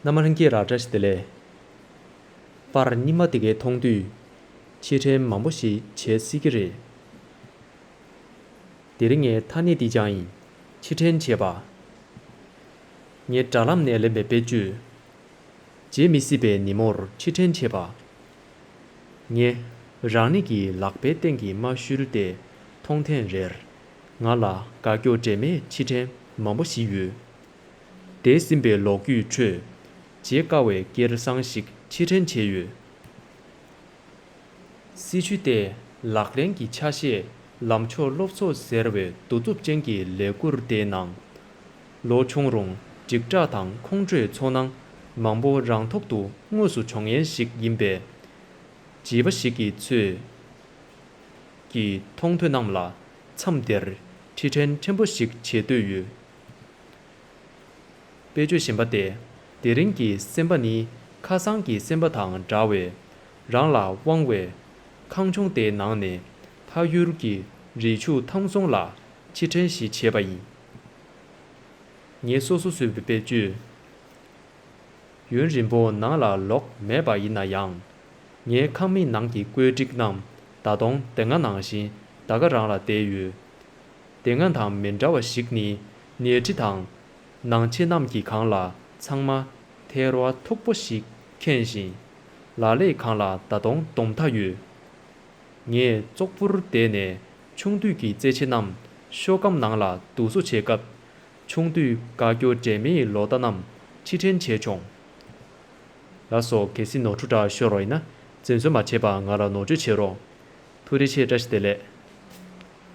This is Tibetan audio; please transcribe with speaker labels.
Speaker 1: ནམ་མ་རིང་སྐེ་རགས་བཀྲ་ཤིས་བདེ་ལེགས། པར་རྙིང་མ་དེ་གའི་མཐོང་དུས། ཕྱིར་དྲན་མང་པོ་ཞིག་བྱེད་སྲིད་ཀྱི་རེད། འདིར་ངའི་ཐ་སྙད་འདི་སྦྱང་ཡིན་ཕྱིར་དྲན་བྱས་པ། ངས་དྲ་ལམ་ནས་ལེན་པའི་བེད་སྤྱོད། བརྗེད་མི་སྲིད་པའི་ཉིན་མོར་ཕྱིར་དྲན་བྱས་པ། ངས་རང་ཉིད་ཀྱི་ལག་པའི་སྟེང་གི་རྨ་ཤུལ་དེ་མཐོང་ཐེངས་རེར། ང་ལ་དགའ་སྐྱོ་འདྲེས་མའི་ཕྱིར་དྲན་མང་པོ་ཞིག་ཡོད། འདས་ཟིན་པའི་ལོ་རྒྱུས་ཁྲོད། བརྗེད་དཀའ་བའི་སྐྱེར་བཟང་ཞིག་ཕྱིར་དྲན་བྱས་ཡོད། སྲིད་བྱུས་ལྟེ་ལག་ལེན་གྱི་ཆ་ཤས་ལམ་ཕྱོགས་སློབ་གསོ་ཟེར་བའི་གདུག་རྩུབ་ཅན་གྱི་ལས་འགུར་དེའི་ནང། ལོ་ཆུང་རུང་འཇིགས་སྐྲག་དང་ཁོང་ཁྲོའི་ཚོར་སྣང་མང་པོ་རང་ཐོག་ཏུ་དངོས་སུ་འབྱུང་ཡན་ཞིག་ཡིན་པས། བྱིས་པ་ཞིག་གི་ཚོད་ཀྱིས་མཐོང་ཐོས་རྣམས་ལ་མཚམས་དེར་ཕྱིར་དྲན་ཕྲན་བུ་ཞིག་བྱེད་འདོད་ཡོད། དཔེ་བརྗོད་བཞིན་པ་སྟེ། དེ་རིང་གི་སེམས་པ་ནི་ཁ་སང་གི་སེམས་པ་དང་འདྲ་བས། རང་ལ་དབང་བའི། ཁང་ཆུང་དེའི་ནང་ནས། ཐ་ཡུལ་གྱི་རི་ཆུ་ཐང་སོང་ལ་ཕྱིར་དྲན་ཞིག་བྱས་པ་ཡིན། ངས་སོ་སོ་བཟོས་པའི་དཔེ་བརྗོད། ཡུན་རིང་པོ་ནང་ལ་ལོག་མེད་པ་ཡིན་ན་ཡང། ངའི་ཁང་མིག་ནང་གི་བཀོད་སྒྲིག་རྣམས་ད་དུང་དེ་སྔ་ནང་བཞིན་ད་ག་རང་ལ་བསྡད་ཡོད། དེ་སྔ་དང་མི་འདྲ་བ་ཞིག་ནི། ཉལ་ཁྲི་དང། ནང་ཆེན་རྣམས་ཀྱི་གང་ལ་ཚང་མ། ཐལ་བ་མཐུག་པོ་ཞིག་ཁེངས་བཞིན། ལ་ལས་གང་ལ་ད་སྟོང་སྡོམ་མཐའ་ཡོད། ངས་ཙོག་པུར་བསྡད་ནས་ཆུང་དུས་ཀྱི་རྩེད་ཆས་རྣམས་ཤོ་སྒམ་ནང་ལ་བསྡུ་བཟོ་བྱེད་སྐབས། ཆུང་དུས་དགའ་སྐྱོ་འདྲེས་མའི་ལོ་ཟླ་རྣམས་ཕྱིར་དྲན་བྱས་བྱུང། ལ་སོགས་གལ་སྲིད་ནོར་འཁྲུལ་འདྲ་ཤོར་བ་ཡིན་ན་འཛེམ་ཟོན་མ་བྱེད་པར་ང་ལ་ནོར་བཅོས་བྱེད་རོགས། ཐུགས་རེ་ཆེ་བཀྲ་ཤིས་བདེ་ལེགས།